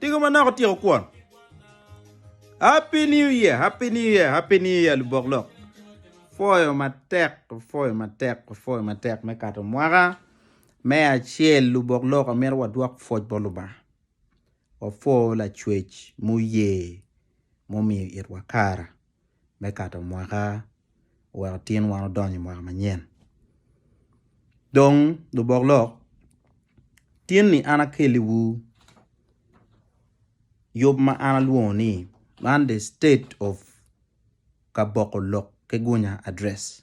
Tigo manok otyeko kwon. Happy new year, happy new year, happy new year lubok lok. Foyo matek, foyo matek, foyo matek me kato mwaka me acel lubok lok amito wadwok pwoc bot Lubanga. Wapwo lacwec muye mumiyo itwa kara. me kato mwaka owek otin wan odony i mwaka manyen dong lubok lok tin ni an akeli wu yub ma an alwongo ni man the state of kaboko lok ki gunya address.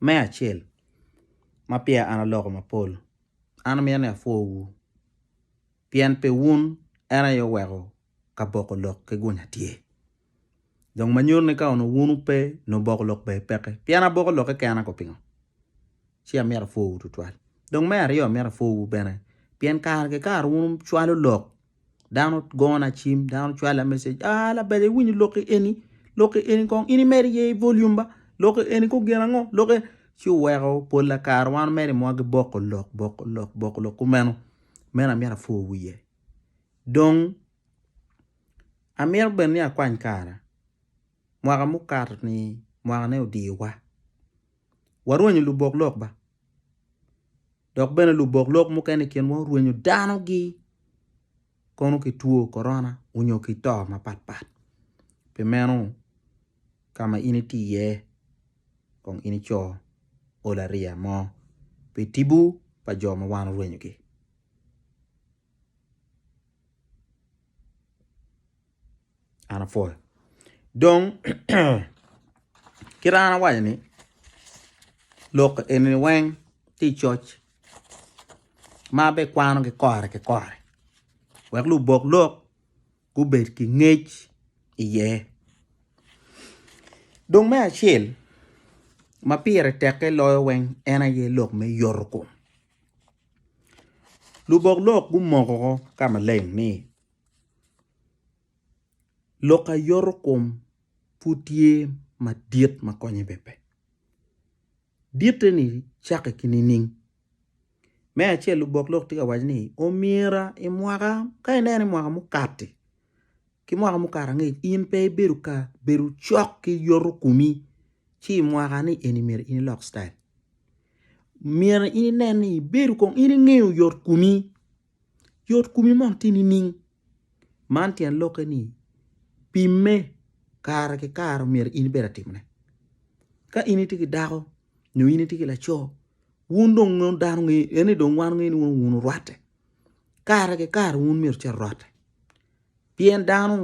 Me acel, ma peya an aloko mapol, an amito ni apwowu, pien pi wun en aye oweko ka boko lok ki gunya tye. Dong ma nyuto ni ka onongo wun wupe, nongo boko lok bene peke. Pien aboko lok keken ango pingo? Ci amito apwowu tutwal. Dong me aryo amito apwowu bene, pien kare ki kare wun wucwalo lok Dano gona cim, dano cwala meceg, aa labaja iwinyo lokki eni, lokki eni kong in imed iye i volume ba, lokki eni kong gin ango, lokki eni, ci oweko pola kare wan mere i mwa giboko lok, boko lok, boko lok kumeno, meno amyero apwor wiye. Dong amyero bene ni akwany kara, mwaka mukato-ni mwaka ne odiwa, warwenyo lubok lok ba. Dok bene lubok lok mukene i kinwa orwenyo danogi kono ki two korona onyo ki to mapat pat. Pi meno, ka ma in iti iye, kong in ico olariya mo pi tipo pa jo ma wan orwenyogi. Dong kit ma an awaco ni lok eni weng tye i coc ma bene kwano ki kore ki kore wek lubok lok gubed ki ngec iye dong me acel ma pire teke loyo weng en aye lok me yotokom. Lubok lok gumoko ka maleng ni, Lok a yoto kom pud tye madit ma konye bene pe. Ditte ni cakke ki nining? Me acel lubok lok tye ka waco ni omyera i mwaka ka ineno i mwaka mukati. ki mwaka mukato angec in pe ibedo ka bedo cok ki yoto komi ci i mwaka ni eni myero in ilok citayil myero in inen ni ibedo kong in ingeyo yot komi, yot komi moni tye nining man tyen lokke ni pimme kare ki kare omyero in ibed atimone ka in itye ki dako nyo in itye ki laco wun dong dano ngeyo en ni dong wan wangeyo ni wun wun orwatte. Kare ki kare wun myero ci arotte, pien dano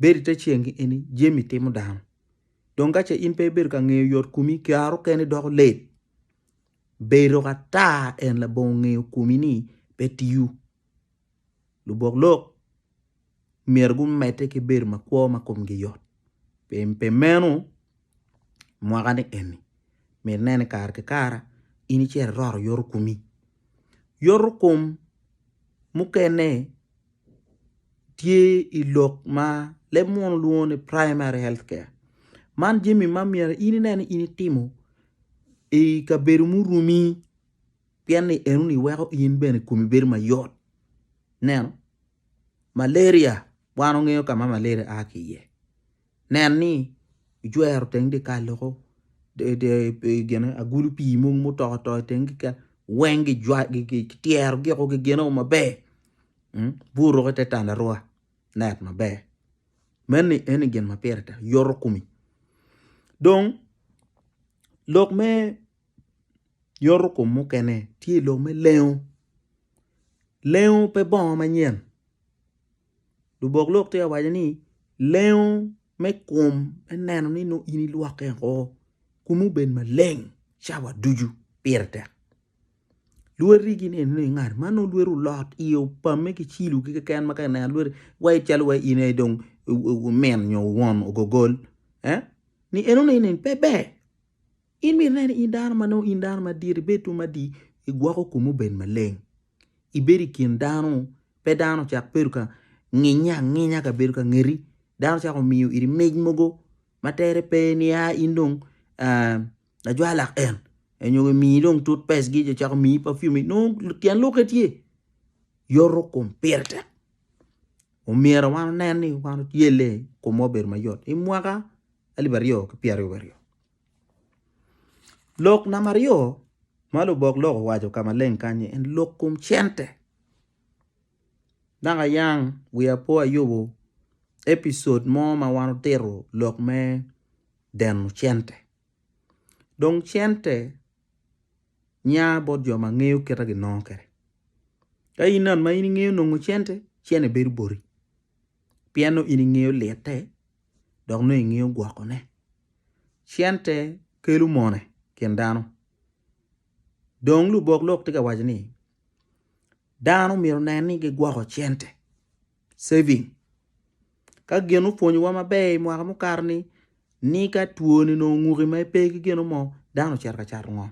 bedo i te ceng ki eni jami timo dano, dong ka ce in pe ibedo ka ngeyo yot komi kare okene doko let, bedo ka taa en labongo ngeyo komi ni pe tiyo, lubok lok myero gumedde ki bedo ma kwo ma komgi yot. Pi meno, i mwakani eni, myero inen ni kare ki kare in icito iroto yotokomi. Yotokom mukene tye i lok ma leb muno lwongo ni Primary Health Care. Man jami ma myero in ine ni in itimo i kabedo muruni pien ni enoni weko in bene komi bedo mayot. Ineno? Malaria, Wan ongeyo ka ma malaria a ki iye. Nen ni ijwero teng dyekal loko, agulu pii mogo ma oto oto i teng dyekal weng kityerogi woko, kigenogi maber. Bur ruko ite tandarua, net maber. Meno eni gin ma pire tek, yoto komi. Dong lok me. Yotokom mukene tye i lok me lengo, lengo pe bongo manyen lubok lok tye ka waco ni lengo me kom me neno ni nongo in ilwokke woko komi obed maleng cawa ducu pire tek lweti gin eni dong ingat ma nongo lweti olot iye opamme ki cilo ki keken ma ka ineno lweti waci calo waci in aye dong wumin nyo wun ogogol ni enoni ni pe ber. In bene nen in dano ma nongo in dano madit, ibed tum madit, igwoko komi obed maleng, ibed i kin dano, pe dano ocak bedo ka nginye anginya ka bedo ka ngeti, dano cako miyo iri mic mogo ma tere pe ni a in dong lajwalak en, nyo gimiyi dong tut pes gi, gicako miyi perfume nongo tyen lokke tye yoto kom pire tek, omyero wan onen ni wan oyelle komwa obedo mayot i mwaka alip aryo ki pyeraryo wiye aryo. Lok namba aryo ma lubok lok owaco ka maleng kany-nyi en lok kom cente dok ayang wiya pe ayubo epicod mo ma wan otito lok me deno cente dong cente nya bot jo ma ngeyo kit ma ginongo kwede ka in ngat ma ingeyo nongo cente, cente bedo boti. pien nongo in ingeyo lite dok nongo ingeyo gwokone. Cente kelo mone i kin dano dong lubok lok tye ka waco ni dano myero onen ni gigwoko cente, saving. Ka gin opwonyowa maber i mwaka mukato ni ni ka twoni onongo onguki ma ipe ki gino mo dano ocito ka cato ngom.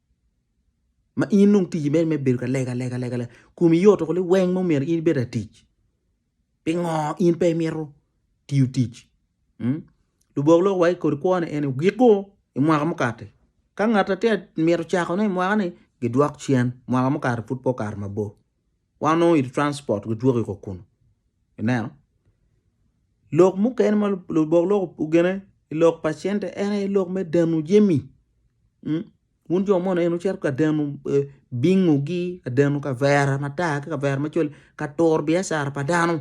ma in nongo ticci mere me bedo ka lega lega lega lega komi yoto kuli weng mo myero in ibed latic pingo in pe imito tiyo tic mm lubok lok wa ki kodi kwone en ni giko i mwaka mukati ka ngat tye ka mito cako ne i mwaka ni gidwok cen mwaka mukati pud pe okato mabor. wan onongo i transport gidwoki ko kunu ineno lok mukene ma lubok lok ogene i lok pa cente en aye lok me deno jami mm wun jo mono en wucito ka deno bingo gi ka deno kavera matar ki kavera macol ka turo biacara pa dano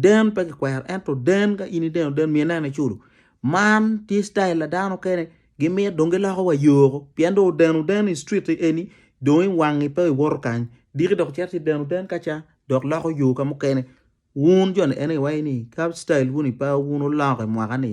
Den pe kikwero ento den ka in ideno den mi ineno iculo. Man tye style pa dano kene gimit dong giloko wa yoo oko pien dong odeno den i street eni dong i wangi pe iwoto kany diki dok icito ci deno den kaca dok loko yoo ka mukene wun joni anyway ni ka style wuni pe wun oloko i mwaka ni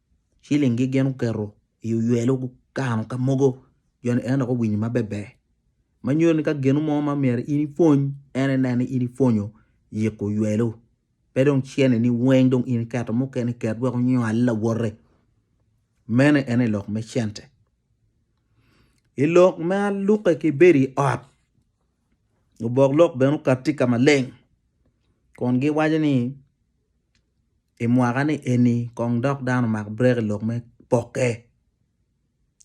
ciling gi gin oketo i oywelo gukano ka mogo jo ni en dok owinyo ma beber ma nyuto ni ka ginu mo ma myero in ipwony en inen ni in ipwonyo yiko oywelo pe dong cente ni weng dong in iketo mukene ket wek onywal lawote meno ene lok me cente i lok ma lukke ki bedo i ot Lubok lok bene okato tye ka maleng kun giwaco ni i mwaka ni eni kong dok dano omak brek i lok me pokke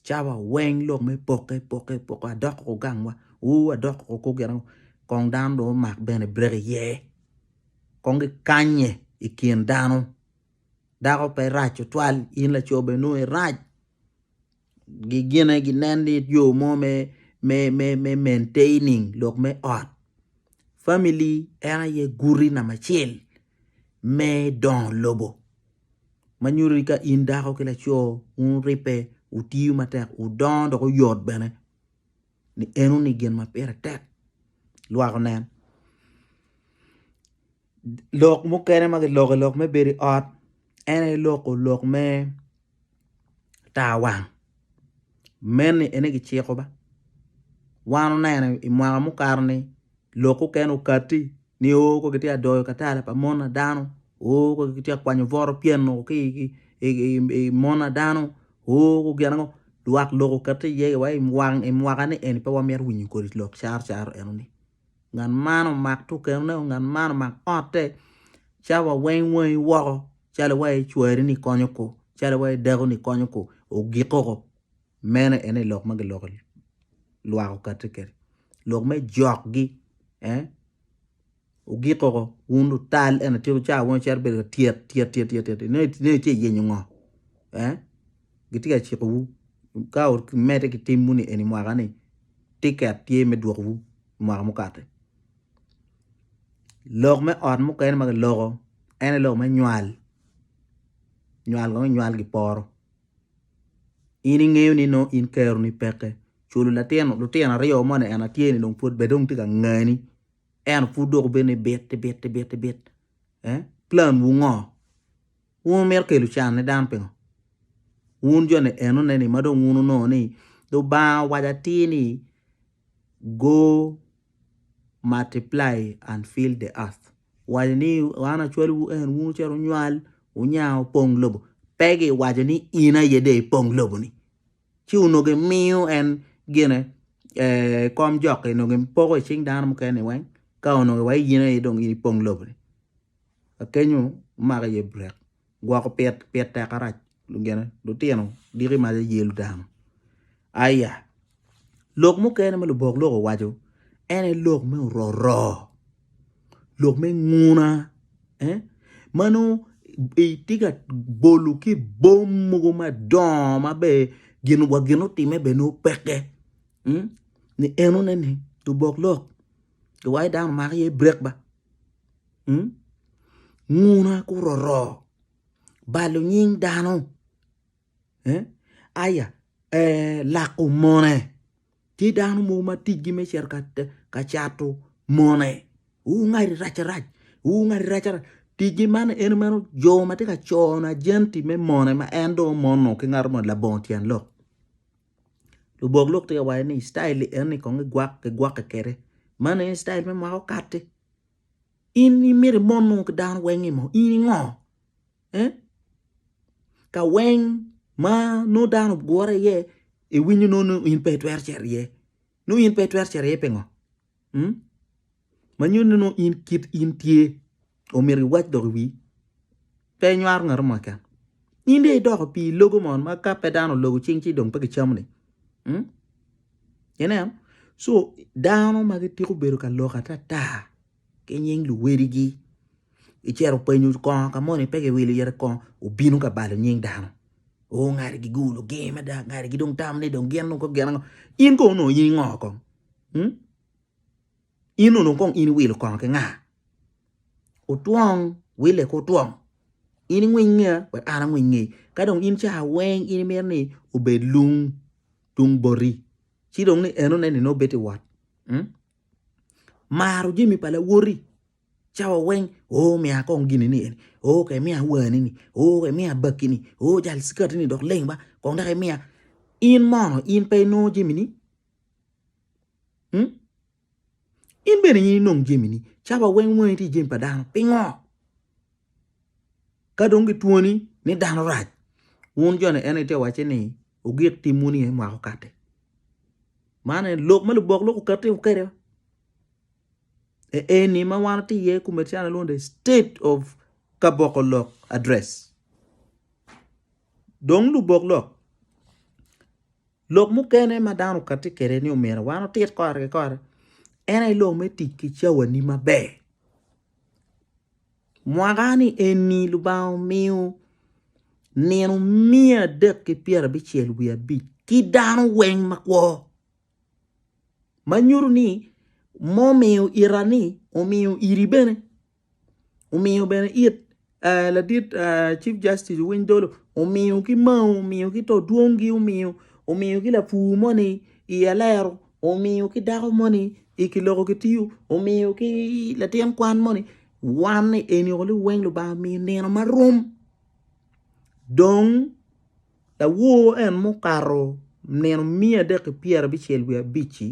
cawa weng lok me pokke pokke pokke adok ko gangwa uu adok ko kor gin ango kong dano dong omak bene brek iye kong gikanye i kin dano dako pe rac tutwal in laco bene nongo irac. gine ginen ni yo mo me me me me maintaining lok me ot family en aye guti namba acel me dongo lobo ma nyuto ni ka in dako ki laco wuribbe wutiyo matek wudongo dok wuyot bene ni eno ni gin ma pire tek lwak onen Lok mukene ma kiloko lok me bedo i ot en aye loko lok me tar wang meno en aye kiciko ba wan oneno i mwaka mukato ni lok mukene okati nio ka kitye ka doyo katala pa mon pa dano o ka kitye ka kwanyo bot opyenu ki i mon pa dano o gin ango lwak lok okati iye wa i mwaka ni eni pe wamito winyo kodi lok caro caro eno ni. ngat man omak tukenone o ngat man omak otte ca wa weng wangi woko calo iwaci icwari ni konyo ko calo iwaci idako ni konyo ko ogik koko meno ene lok ma giloko lwak okati kede lok me jokgi ogik koko wun lutal eno tika wucako wunu cito bedo ka tyet tyet tyet tyet tyet inongo ice iyenyo ngo. gitye ka cikowu ka wumedde ki timwu ni eni mwaka-ni, tiket tye me dwokowu i mwaka mukati. Lok me ot mukene ma kiloko en aye lok me nywal, nywal kong inywal giporo in ingeyo ni nongo in keroni peke culo latin lutino aryo moni en aye tye ni dong pud bene dong tye ka ngani ento pud dong obedo ni bit bit bit bit bit eh plan wu ngo? Wun wumito kelo can ni dano pingo? Wun jo ni enone ni ma dong wun wunongo ni Lubanga owaco atir ni go multiply and fill the earth owaco ni an acwalo wu en wun wucito wunywal wunya wupong lobo pe gi waco ni in aye dong ipong lobo ni ci onongo gi miyo en gine kom jok-ki onongo gi poko i cing dano mukene ni weng ka onongo wa in aye dong ipong lobo ni. Akenyo omako i ye burek gwoko pit pit tek arac gine lutino diki mac aye ludano aya lok mukene ma lubok lok owaco en aye lok me ororo lok me nguna eh ma nongo itye ka bolo ki bom mogo madongo ma ber gin wa gin otime bene nongo peke ni enone ni lubok lok giwaco dano omako iye burek ba. Hmm? Nguna kuroro balo nying dano. Eh? Aya, eh, lako mone. Tye dano mogo ma ticgi me cito ka, ka cato mone. Wungadi rac rac. Wungadi rac rac. Ticgi man en meno jo ma tye ka cono ajenti me mone ma en dong omono ki ngato ma labongo tyen lok. lubok lok tye ka waco ni citail eni kong gigwokke kwede man aye citail me mwaka okato-ti in imyero imon nongo ki dano weng imo in ingo eh ka weng ma nongo dano ogure iye iwinyo nongo ni in pe itwero cito iye nongo in pe itwero cito iye pingo? ma nyuto ni nongo in kit in tye omyero iwac dok iwir pe inywaro ngat mo keken in dong idoko pi logo moni ma ka pe dano ologo cing ci dong pe kicamo ni ineno so dano ma gitiko bedo ka lok atata ki nying luwadigi icito penyo kongo ka moni pe kiwilo iye kongo obino ka balo nying dano oo ngati gigulu gee mada ngati gidong tamo ni gin dong gin ango in kono nongo in ingo kong. In onongo kong in iwilo kono ki nga? Otwong wille ki otwong. In ingwiny ngeya wek an angwiny ngeyi. Ka dong in ca weng in imito ni obed lung tung boti ci dong ni enone ni nongo bedo iwot. Hmm? Maro jami pa lawoti cawa weng o oh, miya kong gini ni eni o oh, ka imiya wani ni o oh, ka imiya bakki ni o oh, jal cikati ni dok leng ba kong dok imiya in mono in pe inongo jami ni Hmm? In bene in inong jemini, caba weng weng tye jemi pa dano. Pingo? Ka dong gitwoni ni dano rac, wun joni en ite wacce ni ogik tim wun iye mwako kate. Man en lok ma lubok lok okati okede. E eni ma wan ti iye kume cana lwongo the state of kaboko lok address. Dong lubok lok Lok mukene ma dano okati kede ni omyero wan otit kore ki kore en aye lok me tic ki cawani maber. Mwaka ni eni Lubanga omiyo nino miya adek ki pyera abicel wiye abic ki dano weng makwo. Manyuto ni momiyo ita ni omiyo iri bene. omiyo bene it ladit chief justice owiny dolo omiyo ki mao omiyo ki to dwong gi omiyo omiyo ki lapur moni i alero omiyo ki dako moni i kiloko ki tiyo omiyo ki latin kwan moni wan ni eni oko ni weng lubanga omiyo nino marom dong lawor en mukato nino miya adek ki pyera bicel wiya abic-ci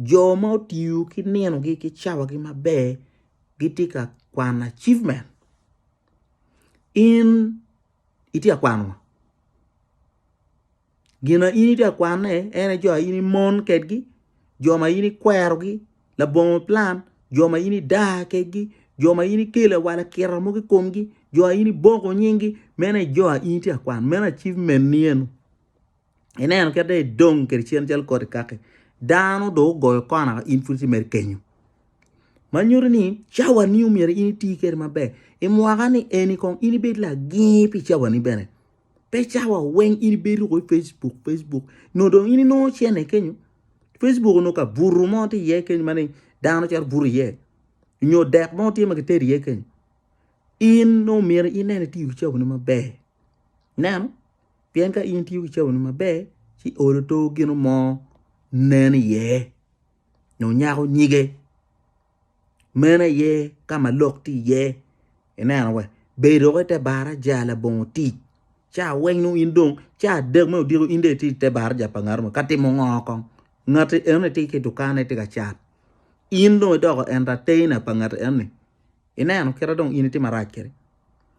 jo ma otiyo ki nino gi ki cawa gi maber gitye ka kwano achievement in itye ka kwano ngo? Gin ma in itye ka kwanone en aye jo ma in imon kwedgi, jo ma in ikwerogi, labongo plan, jo ma in idaa kwedgi, jo ma in ikelo lawala kiro mogo i komgi, jo ma in iboko nyinggi, meno aye jo ma in itye ka kwano, meno achievement-ni eno. ineno kit dong idong kwede cen calo koti kaki dano dong ogoyo kona in pud imedo kenyo ma nyuto ni cawa ni myero in iti kwede maber i mwaka ni eni kong in ibed lagir pi cawani bene pe cawa weng in ibedo woko i Facebook Facebook nyo dong in inongo cene kenyo Facebook onongo ka buto mo tye iye kenyo ma dong dano cito buto iye nyo dek mo tye ma kitedo iye kenyo in dong myero inen itiyo ki cawani maber ineno. Pien ka in itiyo ki caboni maber, ci olo to gino mo nen iye nyo nyako nyige. Meno aye ka ma lok tye iye. Ineno wa, bed dok i te baraja labongo tic. Ca weng nongo in dong ca adek me odiko in dong itye i te baraja pa ngat mo ka timo ngo kong? Ngati enoni tye ki i dukane tye ka cat, in dong idoko entertainer pa ngati enoni. Ineno kite dong in itye marac kwede.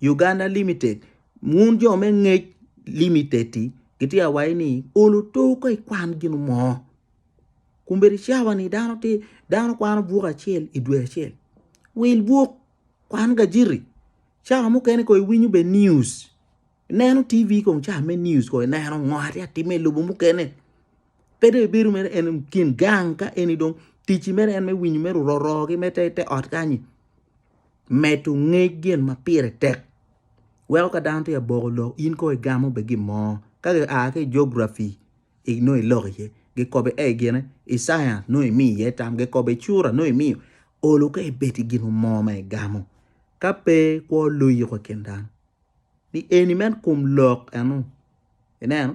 Uganda limited wun jo me ngec limited ti gitye ka waci ni olo oto ka ikwan gin mo kombeddi cawa ni dano ti dano kwano buk acel i dwe acel wil buk kwan gajiri cawa mukene ko iwinyo bene news ineno TV kong cawa me news ko ineno ngo atye ka timme i lobo mukene pe dong ibedo mere en kin gang ka eni dong ticci mere en me winyo mere ororo ki mere te ot kany-nyi Medo ngec gin ma pire tek weko ka dano tye ka boko lok in kong igamo bene gin mo ka gia ki i geography nongo iloko iye gikobi ei gine i science nongo imiyo iye tam gikobi i cura nongo imiyo olu ka ibed ki gin mo ma igamo ka pe kwo loyo kok i kin dano ni eni me kom lok enu ineno.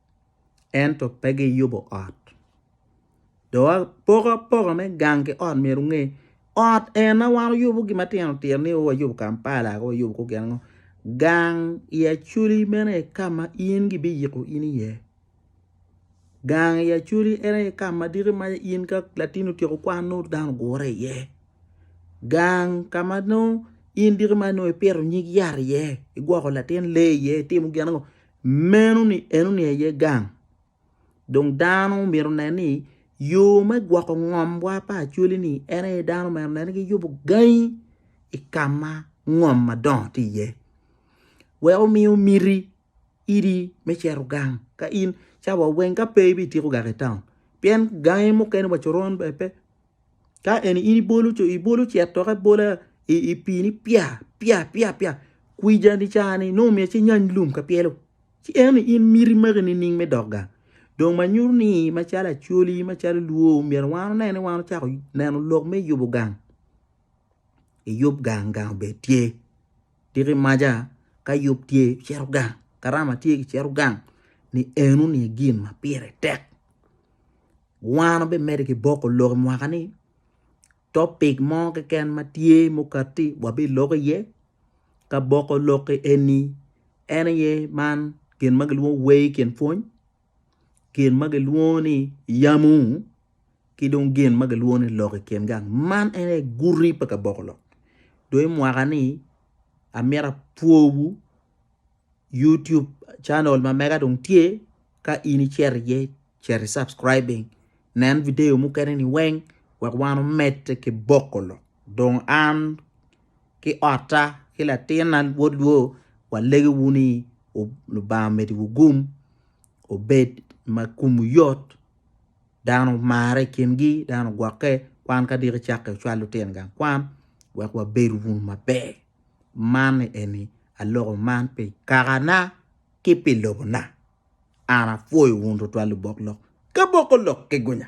ento pe giyubo ot. Dong poko apoka me gang ki ot myero wunge, ot en ma wan wayubo gin matino tino ni o wayubo Kampala o wayubo kor gin ango, gang i Acholi meno aye ka ma in gibiyiko in iye, gang i Acholi en aye ka ma diki ma in ka latinni otyeko kwan nongo dano ogure iye, gang ka ma nongo in diki ma nongo ipito nyig yat iye, igwoko latin lee iye, itimo gin ango. Meno-ni enoni aye gang. Dong dano myero onen ni yo me gwoko ngomwa pa Acholi-ni en aye dano myero onen ni giyubo gangi i ka ma ngom madongo tye iye wek omiyo miti idi me cito gang ka in cawa weng ka pe ibityeko gang i taun pien gangi mukene wa coron bene pe. Ka en in ibolo ce atoka abola i pii ni pya pya pya pya kwica ni ca ni nongo myero ci inyany lum ka pyelo ci eno ni in miti magi nining me dok gang dong ma nyuto ni macalo acholi macalo lwo myero wan one ni wan ocako neno lok me yubo gang iyub gang gang obed tye tiki maca ka yub tye cito gang karama tye kicito gang ni eno ni gin ma pire tek. Wan wabimedde ki boko lok i mwaka ni topic mo keken ma tye mukati wabilok iye ka boko lok eni en aye man gin ma kilwongo ni wer i kin pwony, gin ma kilwongo ni yamu ki dong gin ma kilwongo ni lok i kin gang man en aye guti pa ka boko lok dong i mwaka ni amyero apwowu. YouTube channel ma mega dong tye ka in icito iye cito subscribing nen video mukene ni weng wek wan omed ki boko lok dong an ki otta ki latinna wod lwo walegiwu ni Lubanga omediwu gum obed ma kumu yot dano marre i kingi dano gwokke kwan ka diki cakke cwal lutino gang kwan wek wabed wunu maber. man ni eni, Aloko man pi kakana ki pi lobona, an apwoyo wun tutwal lubok lok, ki boko lok ki gunya.